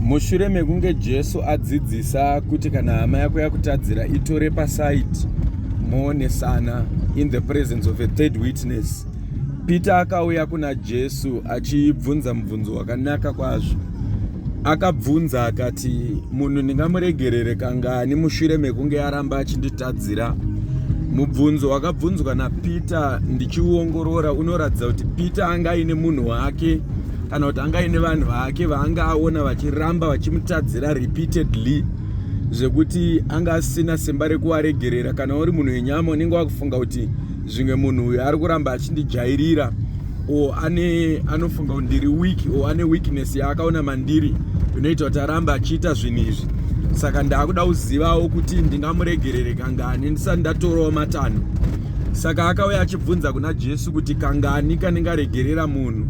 mushure mekunge jesu adzidzisa kuti kana hama yako yakutadzira itore pasaidi moonesana in the presence of a third witness peter akauya kuna jesu achibvunza mubvunzo wakanaka kwazvo akabvunza akati munhu ndingamuregerere kangani mushure mekunge aramba achinditadzira mubvunzo wakabvunzwa napeter ndichiuongorora unoratidza kuti peter anga aine munhu wake kana kuti anga ine vanhu vake vaanga aona vachiramba vachimutadzira repeatedly zvekuti anga asina simba rekuvaregerera kana uri munhu wenyama unenge wakufunga kuti zvimwe munhu uyo ari kuramba achindijairira o ane anofunga kuti ndiri weak o ane weakness yaakaona mandiri inoita kuti arambe achiita zvinhu izvi saka ndaakuda kuzivawo kuti ndingamuregerere kangani ndisati ndatorawo matanho Saka akauya achibvunza kuna Jesu kuti kangani kanenge aregerera munhu.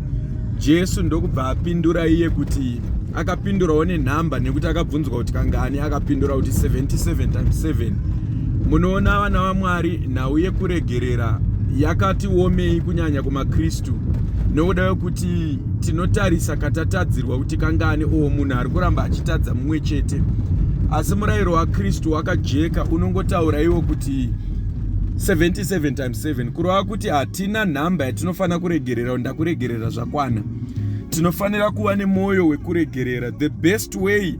Jesu ndokubva apindura iye kuti akapindurawo nenhamba nekuti akabvunzwa kuti kangani akapindura kuti 77 times 7. Munoona vana vaMwari nhau yekuregerera yakati womei kunyanya kumaKristu nokuda yokuti tinotarisa katatadzirwa kuti kangani oo munhu ari kuramba achitadza mumwe chete asi murayiro wakristu wakajeka unongotaura iwo kuti 77 times 7 kurova kuti hatina nhamba yatinofanira kuregerera ndakuregerera zvakwana tinofanira kuva nemwoyo wekuregerera the best way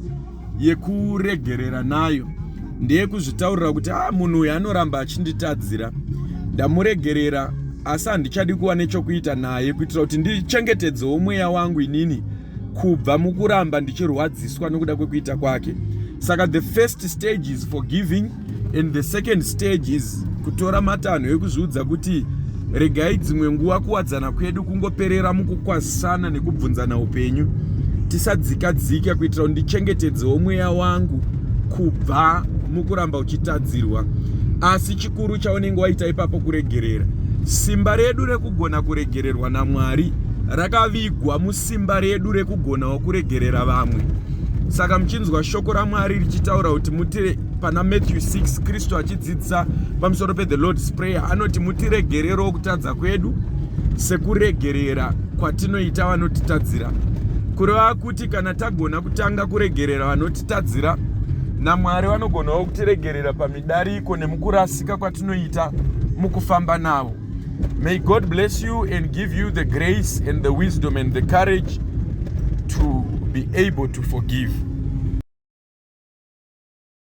yekuregerera nayo ndeyekuzvitaurira kuti a ah, munhu uyu anoramba achinditadzira ndamuregerera asi handichadi kuva nechokuita naye kuitira kuti ndichengetedzewo mweya wangu inini kubva mukuramba ndichirwadziswa nokuda kwekuita kwake saka the first stage is forgiving and the second stage is kutora matanho ekuzviudza kuti regai dzimwe nguva kuwadzana kwedu kungoperera mukukwazisana nekubvunzana upenyu tisadzika dzika kuitira kuti ndichengetedzewo mweya wangu kubva mukuramba uchitadzirwa asi chikuru chaunenge waita ipapo kuregerera simba redu rekugona kuregererwa namwari rakavigwa musimba redu rekugonawo kuregerera vamwe saka muchinzwa shoko ramwari richitaura kuti mutire pana matthew 6 kristu achidzidzisa pamusoro pethe lord's prayer anoti mutiregererewo kutadza kwedu sekuregerera kwatinoita vanotitadzira kureva kuti kana tagona kutanga kuregerera vanotitadzira namwari vanogonawo kutiregerera pamidariko nemukurasika kwatinoita mukufamba navo may god bless you and give you the grace and the wisdom and the courage to be able to forgive